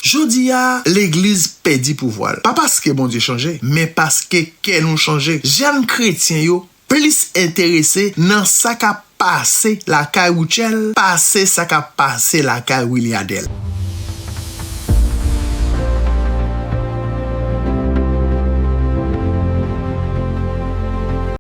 Jodi a, legliz pèdi pouvwa l, pa paske Bondye chanje, men paske kè nou chanje. Jèn kretyen yo plis enterese nan sa k ap pase lakay Rutshelle pase sa k ap pase lakay Williadel.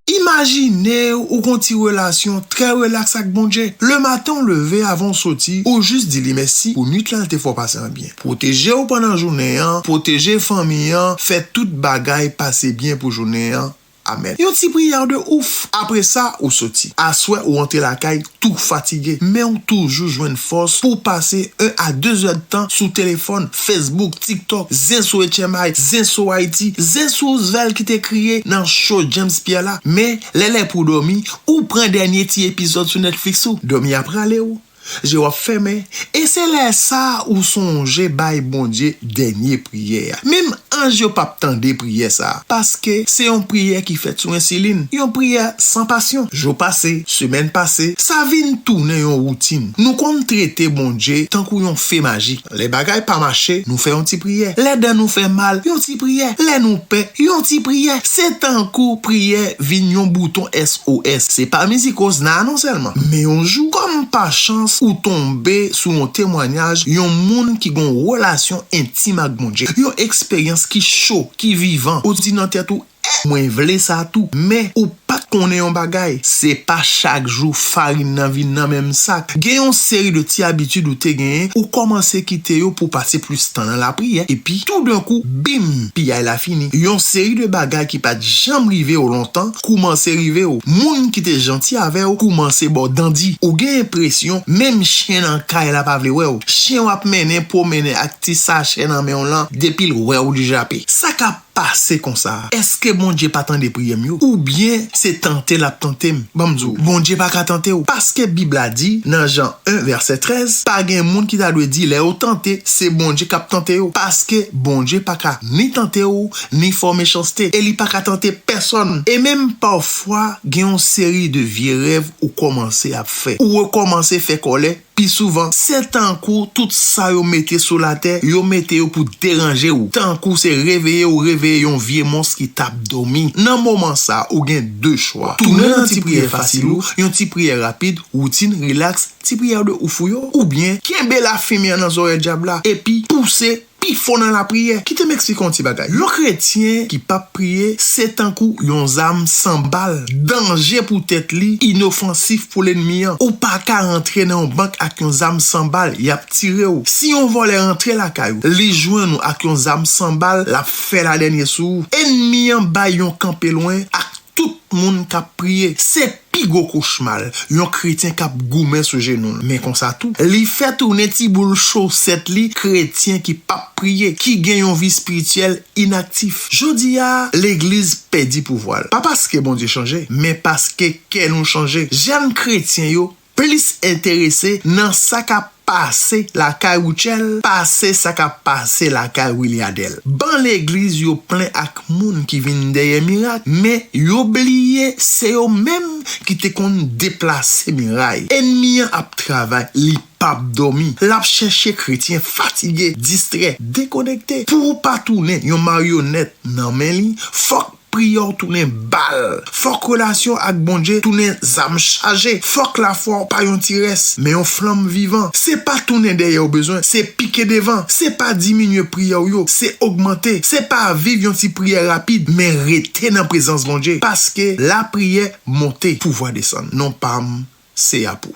Imajine ou gon ti relasyon trè relaks ak Bondje. Le maten ou leve avan ou soti ou jis di li mèsi pou nwit la l te fè w pase an byen. Pwoteje w pandan jounen an, pwoteje fanmi an, fè tout bagay pase byen pou jounen an. Amèn. Yon ti priyè de ouf. Apresa ou soti. Aswè ou antre lakay tou fatige men ou toujou jwenn fòs pou w pase 1 a 2 zè d tan sou telefòn, Facebook, TikTok, zen sou HMI, zen sou Haiti, zen sou Ousvel ki te kriye nan show James Pierre la, men lè lè pou w dòmi, ou pran dènye ti epizòd sou Netflix ou. Dòmi ap rale w, je w ap fèmen, e se lè sa ou sonje bay Bondye dènye. priyè a. Menm anj yo pap tande priyè sa a, paske se yon priyè ki fèt sou ensilin, yon priyè san pasyon. Jou pase, semèn pase, sa vin tounen yon woutin. Nou konn trete Bondye tankou yon fe majik. Lè bagay pa mache, nou fè yon ti priyè. Lè dan nou fè mal, yon ti priyè. Lè nou pè, yon ti priyè. Se tankou priyè vin yon bouton SOS. Se pa mizik Osna a non sèlman. Men yon jou, kòm pa chans, ou tonbe sou yon temwanyaj yon moun ki gen yon relasyon entim ak Bondye. Yon eksperyans ki cho, ki vivan. Ou di nan tèt ou, Eh! Mwen vle sa tou. Men, ou pa t konnen yon bagay. Se pa chak jou farin nan vin nan menm sak. Gen yon seri de ti abitid ou te genyen, ou kòmanse kite yo pou w pase plis tan nan lapriyè, epi, toudenkou, bim! Piyay la fini. Yon seri de bagay ki pa t janm rive w lontan, koumanse rive w, moun ki te janti avè w koumanse ba w dan di, ou gen enpresyon menm chyen nan kay la pa vle wè w, chyen w ap mennen pwomennen ak ti sachè nan men w lan depi l wè w li jape. Sa k ap pase konsa a? Èske Bondye pa tande priyè m yo? Oubyen se tante l ap tante m? Ban m di w, Bondye pa ka tante w, paske Bib la di nan Jan 1 vèsè 13, pa gen moun ki ta dwe di lè yo tante se Bondye k ap tante yo, paske Bondye pa ka ni tante w, ni fo mechanste e li pa ka tante pèsonn. E menm pafwa gen yon seri de vye rèv ou kòmanse ap fè, ou rekòmanse fè kòlè pi souvan. Se tankou tout sa yo mete sou latè, yo mete yo pou deranje ou, tankou se reveye ou reveye yon vye mons ki t ap dòmi. Nan moman sa ou gen de chwa, tounen nan ti priyè fasil ou, yon ti priyè rapid, woutin, rilaks, ti priyè de ouf ou yo, oubyen kenbe lafimi an nan zòrèy dyab la epi pouse pi fò nan lapriyè. Kite m eksplike yon ti bagay. Yon kretyen ki p ap priye se tankou yon zam san bal, danje pou tèt li, inofansif pou lennmi an. Ou pa ka antre nan yon bank ak yon zam san bal, y ap tire w. Si yon vòlè antre lakay ou, li jwenn ou ak yon zam san bal, l ap fè ladènye sou ou. Ennmi an bay yon kanpe lwen ak tout moun k ap priye. Se Pi gwo kochma l, yon kretyen k ap goumen sou jenou l, men konsa tou, li fè tounen ti boul chosèt li kretyen ki pa p priye, ki gen yon vi espirityèl inaktif. Jodi a, legliz pèdi pouvwa l, pa paske Bondye chanje, men paske kè nou chanje. Jèn kretyen yo plis enterese nan sa k ap. pase lakay Rutshelle, pase sa kap pase lakay Wiliadel. Ban legliz yo plen ak moun ki vin dèyè mirak, men yo bliye se yo menm ki te konn deplase miray. Enmi an ap travay, li pap dòmi, lap chèche kretyen fatige, distrè, dekonekte. Pou ou pa tounen yon maryonèt nan men li, fòk. Priyè w tounen bal. Fòk relasyon w ak Bondye tounen zam chaje. Fòk lafwa w pa yon ti rès, men yon flanm vivan. Se pa tounen dèyè w bezwen, se pike devan. Se pa diminye priyè w yo, se ogmante. Se pa viv yon ti priyè rapid, men rete nan prezans Bondye. Paske, lapriyè monte, pouvwa desann. Non pa m, se a pou.